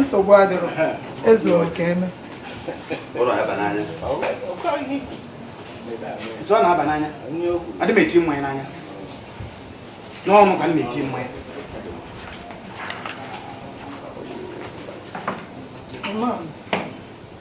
nsogbu adịrọ Ezeoke eme nsọ na-aba n'anya adị m eti mmanya n'anya n'ọnụ ka m na-eti mmanya Mom.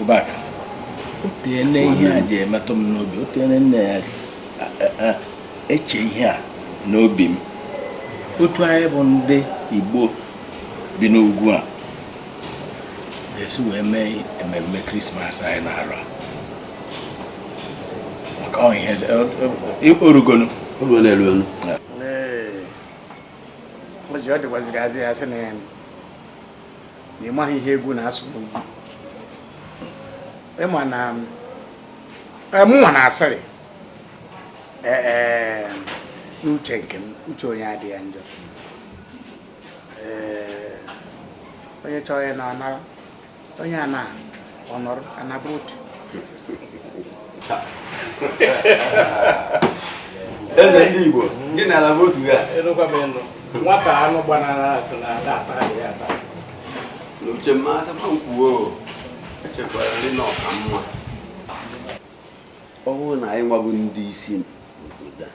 Ụbaka, o teene ihe a ji emetụ m n'obi o teene m na-eche ihe a n'obi m otu anyị bụ ndị Igbo bi n'ugwu a ga-esi wee mee ememme krismas anyị na-arụ maka ihe o rugonụ o ji ọ dịkwaziri azị ya sị na ya na ị maghị ihe egwu na-asụ n'ugwu ị ma na mụnwa na-asịrị n'uche nke m uche onye adịghị ya njọ onye chọrọ ịna anaa onye anaghị ọ nọrọ ana bụ otu eze ndị igbo gị na ala bụ otu ya nwata anụ gbanara a sị na a da-ata ya ata n'uche m a sị ma m kwuo echekwara m na ọ ka mma ọ bụrụ na anyị nwa bụ ndị isi obodo a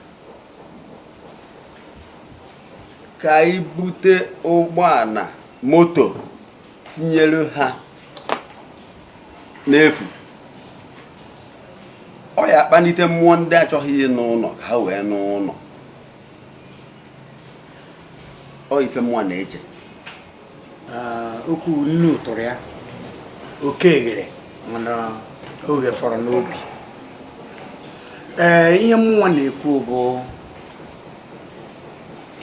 ka anyị bute ụgbọala moto tinyere ha n'efu ọ ya-akpanite mmụọ ndị achọghị ịna ụnọ ka ha wee naa ụnọ ọ ife mụnwa na-eche okwu nnu tụrụ ya oke eghere mana oge fọrọ n'obi ee ihe mụnwa na-ekwu bụ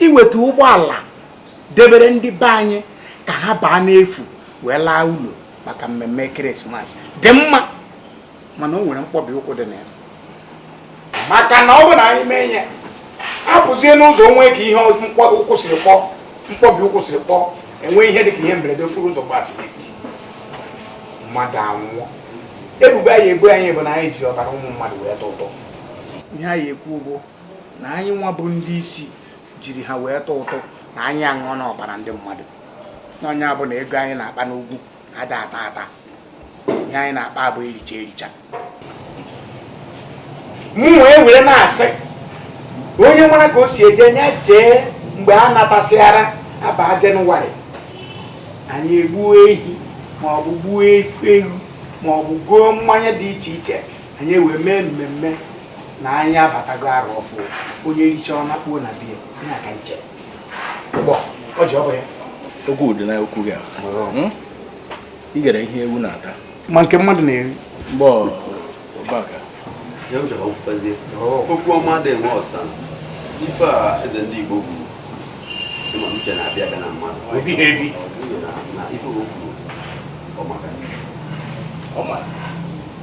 iweta ụgbọala debere ndị be anyị ka ha baa n'efu wee laa ụlọ maka mmemme krismas dị mma mana o nwere mkpọbi ụkwụ dị na ya maka na ọ bụ na anyị mee ihe a pụzie n'ụzọ o nwee ka ihe mkpọbi ụkwụ siri kpọọ mkpọbi ụkwụ siri kpọọ e nwee ihe dị ka ihe mberede okporo ụzọ gbasiri mmadụ anwụọ ebubo a ya-ebo anyị bụ na anyị ji ọbara ụmụ mmadụ wee tụ ụtụ ihe a ya-ekwu bụ na anyị nwa bụ ndị isi jiri ha wee tụ ụtụ na anyị aṅụọna ọbara ndị mmadụ na nya bụ na ego anyị na-akpa n'ugwu a da-ata ata ihe anyị na-akpa bụ ericha ericha m wee were na-asị onye nwere ka o si eje nya jee mgbe a natasịara a baa jenụwarị anyị egbuo ehi maọbụ gbuo efi ewu maọbụ goo mmanya dị iche iche anyị wee mee mmemme na anyị abatago arọ ọfụụ onye richa ọ nakpuo na be ya na aka nche gbọ ọ ji ọbụ ya okwu dị na okwu gị hmm? ị gara ihe ewu na-ata ma nke mmadụ na-eri mgbe ọbaka oh. okwu ọma adị enwe ọsa ife a eze ndị Igbo kwuru ịma uche na-abịa abịa na mmadụ o biha ebi na ife o kwuru ọ maka ọ maka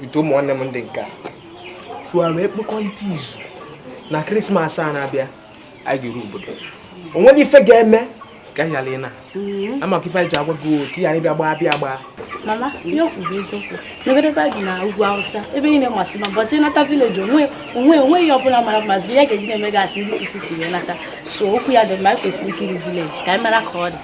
bute ụmụ nwanne m ndị nke a so a wee gbakọrịta izu na krismas a na-abịa anyị ga-eru obodo o nwere ife ga-eme ka anyị ghara ịna mm-hmm. ọ maka ife anyị ji agwa gị ka ị ghara ịbịa gbaa bịa gbaa m ama ihe o kwuru bụ eziokwu n'ebe ebe a bi na ugwu awụsa ebe niile masị mma bọtị nata vileji o nwe o nwe o nweghị ihe ọbụla mara mmasị ya ga-eji na-eme gasị ndị sisi tiwe nata so okwu ya dị mma anyị kwesịrị ikiri vileji ka anyị mara ka ọ dị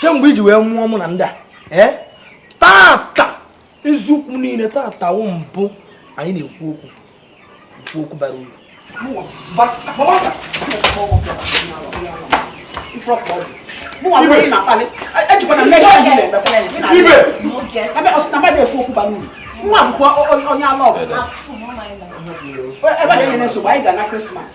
kemgbe e ji wee mụọ mụ na ndị a eh? tata eziokwu niile tata wụ mbụ anyị na-ekwu okwu ekwu okwu bara uru nwa akwụkwọ onye ala ọgụ ebe na-enye nsogbu anyị ga-ana krismas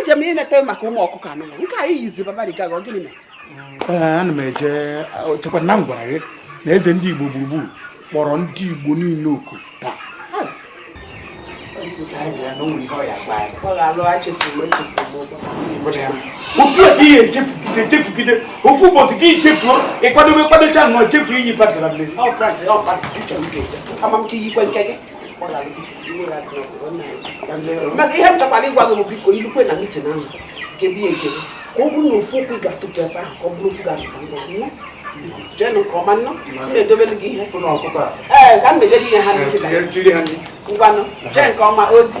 eje m ileta maka ụmụ ọkụkọ anụ nke anyị yizi babariga ọ gịnị mere ana m eje chekwa na m gwara gị na eze ndị igbo gburugburu kpọrọ ndị igbo niile oku taa otu a ka ị ya-echefugide echefugide ofu ụbọchị gị chefuo ị kwadobe kwadocha nnọọ chefuo iyi patarị maka ihe m chọkwara ịgwa gị bụ biko i lukwe na mitin ahụ kebe ekebe ka ọ bụrụ na ofu okwu ị ga-atụpụ ebe ahụ ka ọ bụrụ okwu ga-atụpụ ngwa nwa jenụ nke ọma nnọ m na-edobelu gị ihe ee ka m mejere ihe ha na-eketa ngwanụ jee nke ọma ọ dị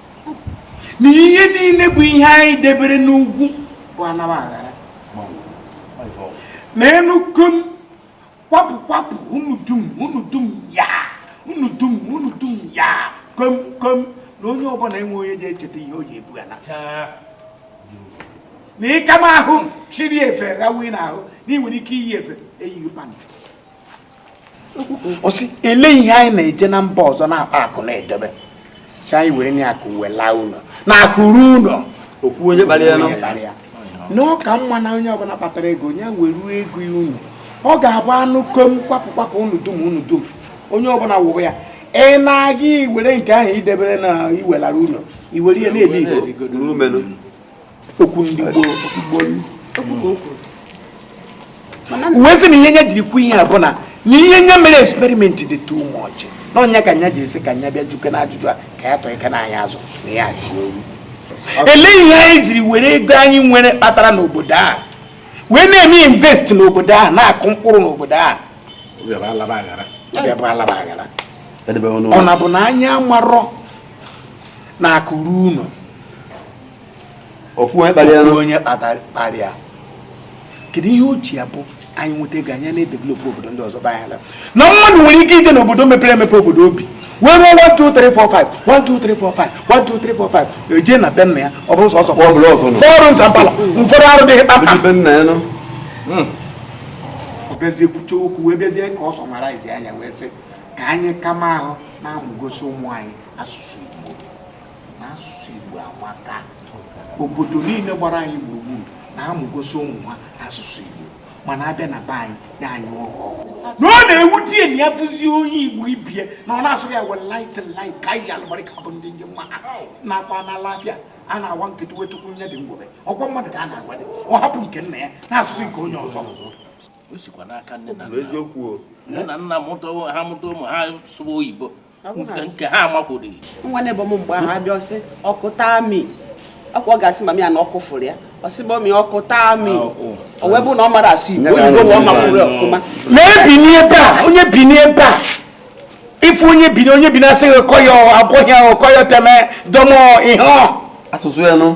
na ihe niile bụ ihe anyị debere n'ugwu bụ a naba a ghara ma a nụ kom kwapụ kwapụ unu dum unu dum ya unu dum unu dum ya kom kom na onye ọbụla enwe onye ji echeta ihe o ji ebu ya na na ịka m ahụ chịrị efe gawe n'ahụ na ị nwere ike iyi efe eyighị pantị ọ sị ele ihe anyị na-eje na mba ọzọ na-akpa akụ na-edebe sị anyị werenụ akụ wee laa ụlọ na akụ ruo ụlọ o kwuo onye kpara ya na ọ ka mma na onye ọbụla kpatara ego onye weruo ego ya ụnọ ọ ga-abụ a nụ kom kwapụ kwapụ unu dum unu dum onye ọbụla wụrụ ya ị na-aga iwere nke ahụ i debere na i welara ụlọ i were ihe na-ebi igodo okwu ndị gboo wee sị na ihe nye jiri kwu ihe a bụ na na ihe nye mere experiment dị too much na ọ nya ka nya jiri sị ka nya bịa jụkene ajụjụ a ka ya tọọ ike na anyị azụ na ya si oru elee ihe anyị jiri were ego anyị nwere kpatara n'obodo a wee na-eme invest n'obodo a na-akụ mkpụrụ n'obodo a ọbịa bụ alaba aghara ọ na-abụ na anyị amarọ na akụ ruo ụlọ o kwuo onye kpatara ya kedu ihe o ji abụ anyị nweta ego anyị na-edevelopụ obodo ndị ọzọ banye ala na mmadụ nwere ike ije n'obodo mepere emepe obodo obi wee rụọ 12345 e je na be nna ya ọ bụrụ sọsọ fọrọ nzampala ụfọdụ arụdịghị kpamkpam hmm. bịazie kwuche okwu wee bịazie ka ọ sọmaraizia nya wee sị ka anyị kama ahụ na-amụgosi ụmụ anyị asụsụ na asụsụ Igbo amaka obodo niile gbara anyị gburugburu na-amụgosi ụmụ ha asụsụ Igbo mana a bịa na be anyị ya anyị ọkụ ọkụ na ọ na-ewute ya na ya fụzie onye Igbo ibe ya na ọ na-asụ ya were light ka anyị alụgbarịka bụ ndị njem ma na-akwa na alafia a na-awa nkịtị itukwu nyịrị ngwere ọ kwa mmadụ ka a na-agwadị ọ hapụ nke nna ya na-asụ sụọ nke onye ọzọ o sikwa n'aka nne na nna ha mụta ụmụ ha sụwa oyibo nke ha amakwurọ nwa na-ebe m mgbe ahụ abịa ọ sị ọkụ taa mi ọ kwa ọ ga-asị mama ya na ọkụ fụrụ ya ọ sị mummy ọkụ taa mi ah, oh. o wee bụ na ọ marọ asụ Igbo oyibo na ọ makwurọ ya ọfụma na Bini ebe a onye Bini ebe a ife onye Bini asị gị koyo abụghị ahụ koyo teme domo ihe asụsụ ya nụ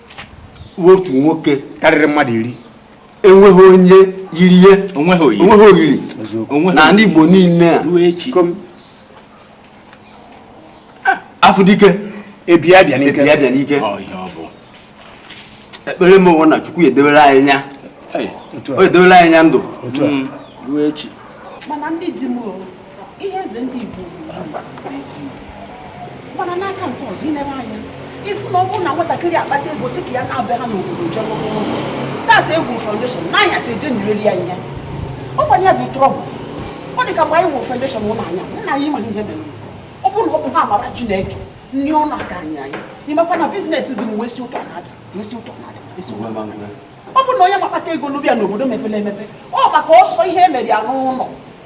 otu nwoke karịrị mmadụ iri enweghị onye yiri ya o nweghị oyiri na ndị Igbo niile a ah, a fụ dike e bie abịa n'ike ekpere m bụ na Chukwu edebere anyị nya o edebere anyị nya ndụ mm. ihe eze ndị Igbo mana n'aka nke ọzọ i lebe anya ị fụ na ọ bụrụ na nwatakịrị akpata ego sị ka ya naa be ha n'obodo jebe tata egwu foundation n'anya si eje nyereri ya ihe ọ gwara ya bụ trouble ọ dị ka mgbe anyị nwere foundation ụlọ anya nna anyị ma ihe mere ọ bụrụ na ọ bụ ha mara Chineke nri ụlọ aka anyị imekwa na business dị m wesi ụtọ na-ada ọ bụrụ na onye kpata ego n'obi ya n'obodo mepere emepe ọ maka ọsọ ihe e mere ya n'ụlọ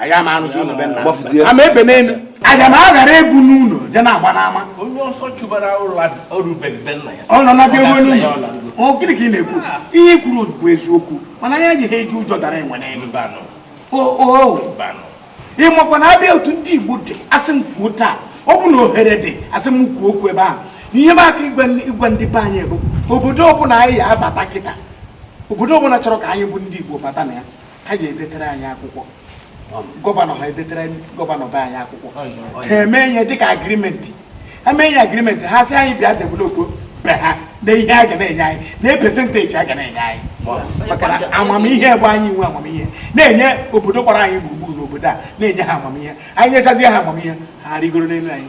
anyị ama arụzi ụlọ be nna ama ebe n'elu aga m aghara egwu n'ụlọ je na-agba n'ama onye ọsọ chụbara ụlọ ọ rụbeghị be nna ya ọ nọ na gị ruo n'ụlọ ọ gịnị ka ị na-ekwu ihe i kwuru bụ eziokwu mana anyị ejighị eji ụjọ dara enwe n'elu ị makwa na a bịa otu ndị igbo dị a sị m kwuo taa ọ bụ na ohere dị a sị m kwuo okwu ebe ahụ ihe m aka ịgwa ndị be anyị bụ obodo ọbụla anyị ya abata kịta obodo ọbụla chọrọ ka anyị bụ ndị igbo bata na ya ha ga-edetere anyị akwụkwọ gọvanọ ha edetere gọvanọ be anyị akwụkwọ ha eme ihe dịka agrimenti ha mee ihe agrimenti ha sị anyị bịa developo be ha na ihe a ga na-enye anyị na pesenteji a ga na-enye anyị maka na amamihe bụ anyị nwe amamihe na-enye obodo gbara anyị gburugburu n'obodo a na-enye ha amamihe anyị nyechazie ha amamihe ha rigoro n'elu anyị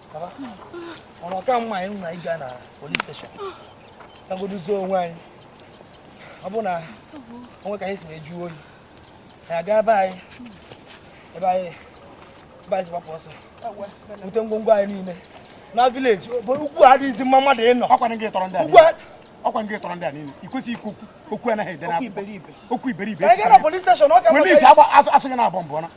ọnụ ọ ka mma anyị nwa ịga na police station gagodu zoo onwe anyị ọ bụ na o nwe ka anyị si mejụọ oyi anyị aga ebe anyị ebe anyị ebe anyị si gbapụ ọsọ bute ngwongwo anyị niile na village ugwu adịghịzi mma mmadụ ịnọ ọkwanụ gị tọrọ ndị a niile ọkwanụ gị tọrọ ndị a niile i kwesị ikwu okwu anaghị ede na okwu iberibe na police station asụ gị na-abọ mbụ na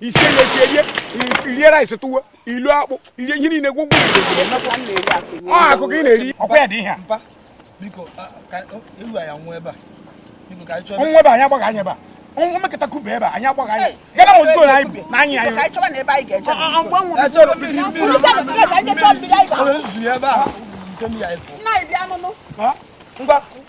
isi enye esi erie irie rice tụwa i loo akpụ i rie ihe niile gwụgwụ ọ akụkọ ị na-eri ọ kwa ya dị ihe a nwa ebe anyị agbaghị anya ebe a nwa mekọta kuba ebe a anyị agbaghị anya gana m ozugbo na anyị na anyị anyị ngwa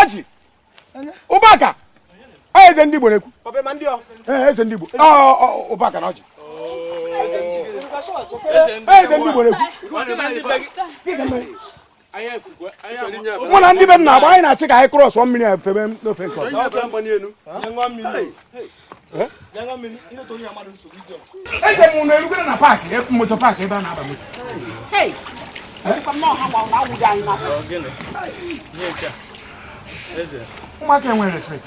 ọjị ụbaka eze ndị Igbo na-ekwu eze ndị Igbo ụbaka na ọjị eze ndị Igbo na-ekwu mụ na ndị be nna agba anyị na-achọ ka anyị krọsọ mmiri a febe n'ofe nke ọzọ eje m na erugoro na paakị e, moto paakị ebe a na-aba moto ụmụaka enwere respekt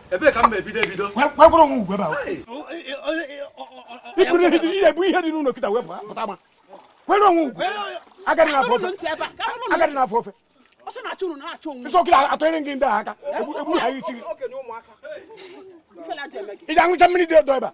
ebee ka m ebido ebido gwakwara onwe ugwe bụ ihe dị n'ụlọ kịta wepụ pụta ma kwere onwe ugwe agadị n'afọ ofe agadị n'afọ ofe nsọkịta atụnyere gị ndị a aka egbu ha isi gị ị ga-aṅụcha mmiri dị ọdọ ebe a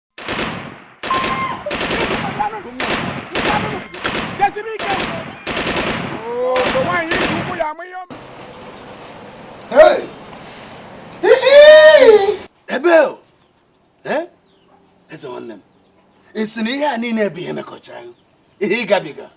ebe eh? eze nwanne m ị sị na ihe a niile bụ ihe mekọchara ihe gabiga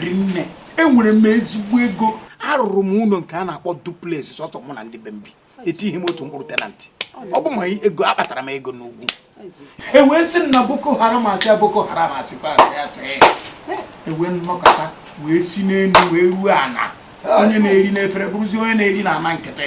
rinne enwere m ezigbo ego arụrụ m ụlọ nke a na-akpọ duplex sọsọ mụ na ndị be m bi etighị m otu mkpụrụ tenant ọ bụ ma ego akpatara m ego n'ugwu e wee sị na boko haram asị ya boko haram asị kwa asị asị e wee m nọkata wee si n'elu wee ruo ana onye na-eri n'efere bụrụzi onye na-eri na ana nkịtị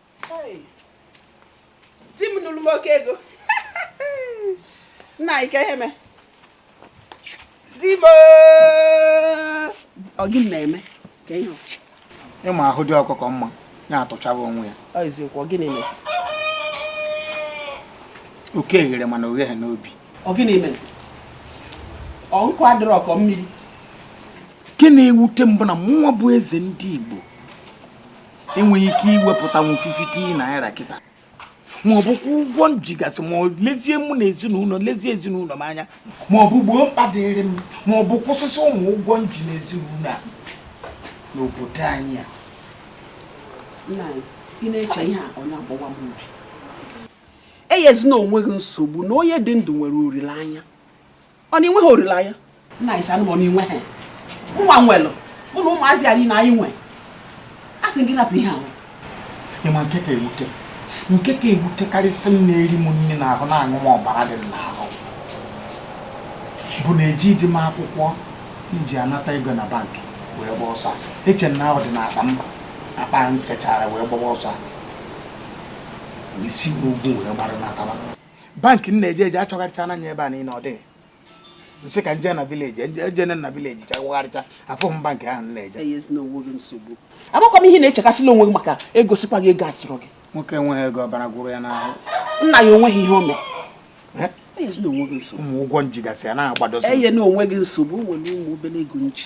di m nụrụ m oke ego nna kee ihe me di m ọ gị na-eme ka ihe ị ma ahụ dị ọkụkọ mma ya atụchaba onwe ya eziokwu ọ gịnị mezi oke eghere mana o gheghị n'obi ọ gịnị mezi ọ nkụ adịrọ ọkọ mmiri nke na-ewute m bụ na mụnwa bụ eze ndị Igbo enweghị ike iwepụtanwu 50 naira kịta ma ọ bụ kwụọ ụgwọ m jigasị ma lezie mụ na ezinụlọ lezie ezinụlọ m anya ma ọ bụ gboo mkpa dịrị m ma ọ bụ kwụsịsị ụmụ ụgwọ m ji na ezinụlọ a n'obodo anyị a m na-eche ihe a ọ na-agbawa m obi enyezina onwe gị nsogbu na onye dị ndụ nwere olileanya ọ na i nweghị olileanya nna anyị sanụ m inwe ha ụwa nwelụ mụ na ụmụazị anyị na anyị nwe a sị gị rapụ ihe ahụ ị ma nke ka ewute nke ka ewute karịsị m na-eri m nri n'ahụ na-aṅụ m ọbara dị m n'ahụ bụ na eji dị m akwụkwọ m ji anata ego na bank wee gbaa ọsọ eche m na ahụ dị n'akpa m akpa m sechara wee gbaba ọsọ si n'ugwu wee gbara nataba bank m na-eje eje achọgharịchana m ya ebe niile ọ dịghị m sị ka m jee na village ejee m na village chọgharịchaa afụhọ m bank ahụ m na-eje amakwa m ihe nna echekasịla onwe gị maka egosikwa gị ego a sịrị gị nwoke enweghị ego ọbara gwụrụ ya n'ahụ nna ya onweghị ihe o mere ụmụ ụgwọ m jigasị ya na-agbadosi enyena onwe gị nsogbu nwere ụmụ obere ego m ji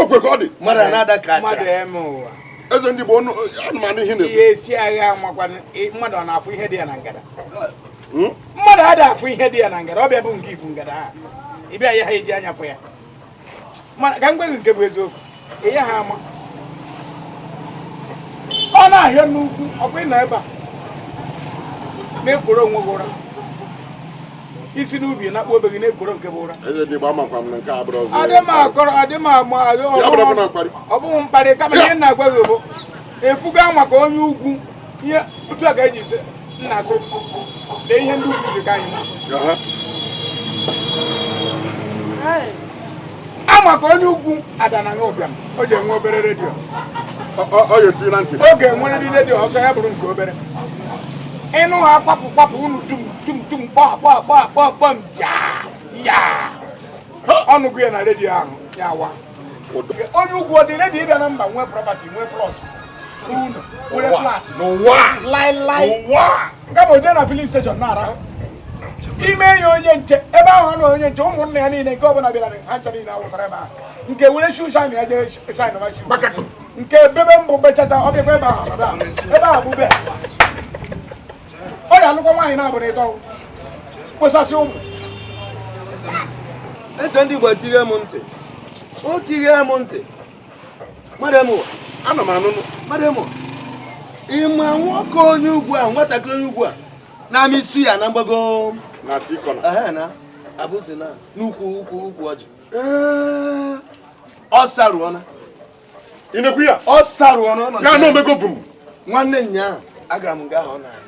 o kwe ka ọ dị mmadụ na-ada ka mmadụ eme ụwa eze ndị Igbo ọnụ anụmanụ ihe na-ekwu ihe esi agha amakwanụ mmadụ ọ na-afụ ihe dị ya na ngada hmm? mmadụ ada afụ ihe dị ya na ngada ọ bịa bụ nke ibu ngada ha ị bịa ya ha eji anya fụ ya ka m gwa gị nke bụ eziokwu ịya ha ama ọ na-ahịa n'ugwu ọkwa ị nọ ebe a na-ekworo onwe gị ụra i si n'ubi na akpụ be gị na-ekworo nke bụ ụra ọ bụghị mkparị kama ihe m na-agwa gị bụ efuga maka onye ugwu ihe otu a ka e ji sị nna sị lee ihe ndị ugwu ji ka anyị a ma ka onye ugwu adanaghị ụbịam o ji enwe obere redio ọ ya etinye na ntị ọ ga-enwerịrị redio ọ sọ ya bụrụ nke obere ịnụ ha kwapụ kwapụ unu dum dum dum kpọọ kpọọ kpọọ kpọọ kpọọ m ya ya ọnụ gụ ya na redio ahụ ya wa onye ugwu ọ dị ready ịbịa na mba nwee property nwee plot unu were flat n'ụwa laịlaị n'ụwa kama o jee na filling station na-arahụ e mee ya onye nche ebe ahụ na onye nche ụmụnne ya niile nke ọbụla bịara ha ncha niile awụsara ebe ahụ nke were shoe shine ya jee shine ma shoe nke bebe mbọ bechachaa ọ bịakwa ebe ahụ ebe ahụ bụ be ọ ya alụkwa nwaanyị naabọ na ịtọ kposasị ụmụ eze ndị Igbo tinye m ntị o tinye m ntị madam ana m anụ nụ madam ị ma nwoke onye ugwu a nwatakịrị onye ugwu a na-amị suya na mgbago na tikọna na abụzi na n'ukwu ukwu ukwu ọjị ọ sarụọna ị na-ekwu ya ọ sarụọna ya na omego vum nwanne nya agara m nga ahụ na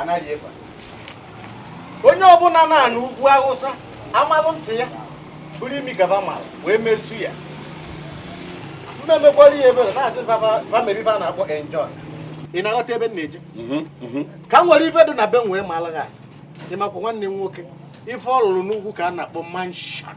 anaghị efe onye ọbụla nọ n'ugwu awụsa amalụ ntị ya bụrụ imi gaba mara wee mesu ya mmemekwara ihe ebere na-asị family ife a na-akpọ enjoy ị na-aghọta ebe m na-eje mhm, mhm. ka m were ife dị na be m wee maala gị atụ ị makwa nwanne m nwoke ife ọ rụrụ n'ugwu ka a na-akpọ mansion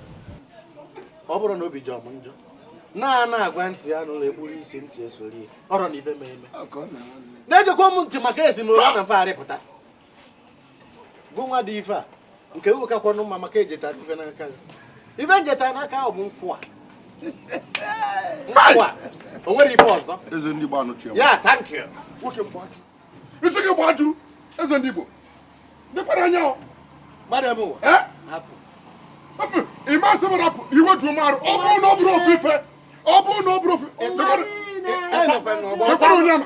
ọ bụrụ na obi jọ m njọ na a na-agwa ntị ya anụrọ e gburu isi ntị esoro ihe ọrọ na ibe m eme na-ejekwa m ntị maka ezinụlọ na mfagharị pụta gụnwa dị ife a nke uwe kakwanụ mma maka ejeta ife n'aka gị ife njeta n'aka ahụ bụ nkwụ a nkwụ a o nwere ife ọzọ ya thank you isi gị gbajuru eze ndị Igbo dịkwara anya ị ma sị m rapụ iwe ju m arụ ọ bụrụ na ọ bụrụ ofu ife ọ bụrụ na ọ bụrụ ofu dịkwara onye ama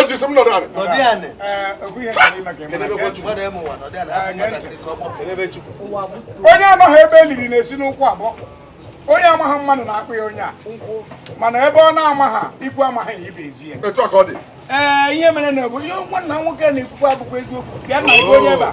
eze sị m nọrọ ala nọdụ anị onye amaghị ebe e liri na-esi n'ụkwụ abọ onye amaghị mmadụ na-akpọ ya onye a mana ebe ọ na-amaghị ikwu amaghị ibe ezi ya etu a ka ọ dị ee ihe mere na bụ ihe nwanna nwoke na-ekwukwa abụkwa eziokwu bịa na onye ebe a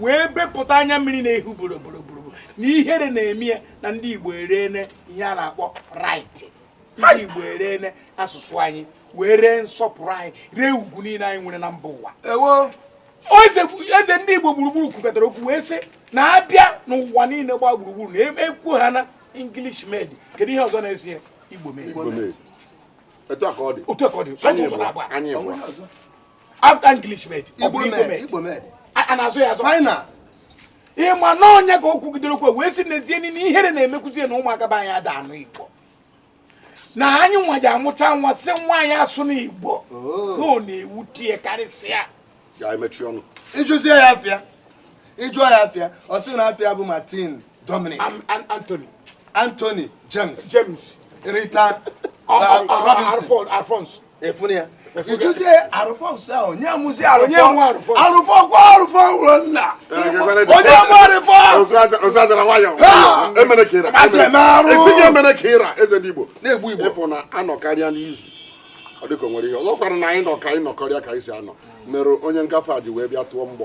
wee bepụta anya mmiri na-ehu boroboroboro na ihere na-eme ya na ndị Igbo ereene ihe a na-akpọ right ndị Igbo ereene asụsụ anyị wee ree nsọpụrụ anyị ree ugwu niile anyị nwere na mba ụwa eze ndị Igbo gburugburu kwukọtara okwu wee sị na a bịa n'ụwa niile gbaa gburugburu na ekwu ha na English made kedu ihe ọzọ na-eso ya Igbo made otu a ka ọ dị otu a ka ọ dị after english made igbo made a na-azụ ya azụ final ịma na onyeka kwugidere okwu wee sị n'ezie na ihere na-emekwuzi ya na ụmụaka be anyị ada anụ igbo na anyị nwa ji amụcha nwa sị nwa anyị asụna igbo oh. na ọ na-ewute ya karịsịa ịjụzie ya afa ya ịjụọ ya afa ya ọ sị na afa ya bụ martin dominic anthony anthony james james rita uh, uh, uh, alfonso efunu ya ịjụzie arụfọs ahụ onye mụzi arụfọ arụfọ kwa arụfọ mụrụ nna onye mụ arụfọ ozadara nwayọ emere ka ịra esighị emere ka ịra eze ndị igbo na-egbu igbo ịfụ na anọkarịa n'izu ọ dịka o nwere ihe ọzọ kwara na anyị nọ ka anyị nọkọrịa ka anyị si anọ mere onye ngafe a ji wee bịa tụọ mgbọ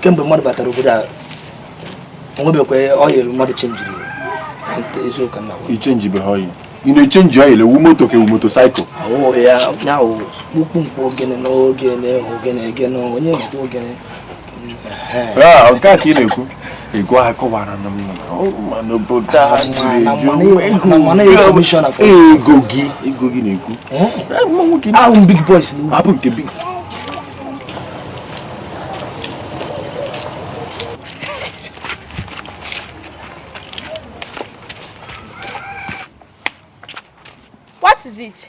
kemgbe mmadụ batara obodo a o nwebekwa oil mmadụ chenjiri eziokwu na ị chenjibeghị oil ị na-echenji oil ị wụ moto ka ị wụ motorcycle ya kpukpu mkpu ogene na ogene ogene gene onye mkpu ogene Ah, nke a ka ị na-ekwu ego a kọwara na n'obodo a ego gị ego gị na-ekwu eh? ahụ big boys abụ nke big What is it?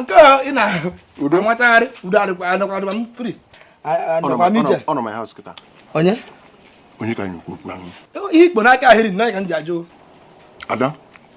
nke ị na-ahụ udo nwachagharị udo adịkwa adịkwa adịkwa m free anọkwa m ije ọ nọ my house kịta onye onye ka anyị okwu okwu ahụ ihe ikpo n'aka ahịrị nna ka m ji ajụ ada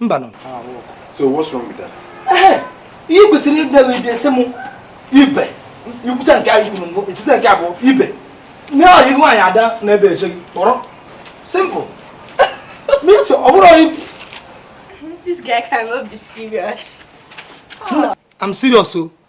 mba nụ so what's wrong with that eh ihe i kwesịrị ịbịa wee bịa sị m ibe ikwucha nke anyị kwuru mbụ esite nke abụọ ibe nye ọyị nwaanyị ada n'ebe eche gị kpọrọ simple meet ọ bụrụ ọyị this guy cannot be serious I'm serious o oh.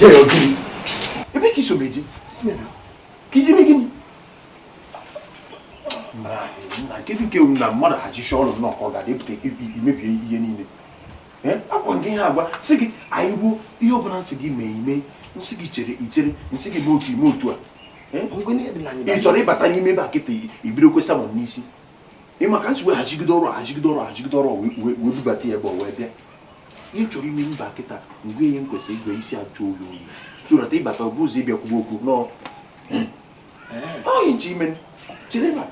Dere ọ gịnị? Ebee ka i so m eje? Ka i je mee gịnị? na kedu nke na mmadụ hachichaa ọrụ nnọọ ka ọ ga-adị pụta imebie ihe niile ọ kwa nke ihe agwa sị gị anyị ruo ihe ọbụla m sị gị mee i mee m sị gị chere i chere m sị gị mee otu i mee otu a ị chọrọ ịbata n'ime ebe a kịta ibido kwesa m n'isi ị ma ka m si wee hachigide ọrụ hachigide ọrụ hachigide ọrụ wee bubata ya ebe ọ wee bịa ị chọọ ime mba kịta mgbe ihe m kwesịrị igwe isi ajụ oyi oyi turata ị bata ọ bụ ụzọ ị bịa kwuba okwu nọ onye nche ime chere ma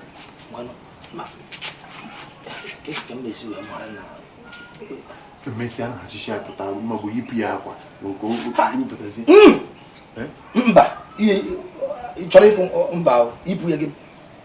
mmesịa na achịcha pụta maọbụ yipụ ya akwa nke okpụpụtazi mba chọrọ ịfụ mba yipụ ya gị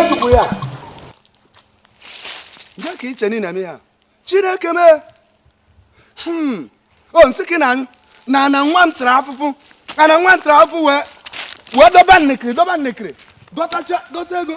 ojukwu ya nke ka i che na ị na-eme ya chineke mee hmm. o nsị ka ị na-anyụ na ana nwa m tara afụfụ ana nwa m tara afụfụ wee wee doba nnekiri doba nnekiri dọtacha dọta ego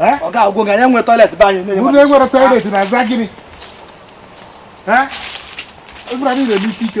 ọ ga-agwa gị anyị nwere toilet be anyị unu enwere toilet na-aza gịnị egwura niile n'isi ike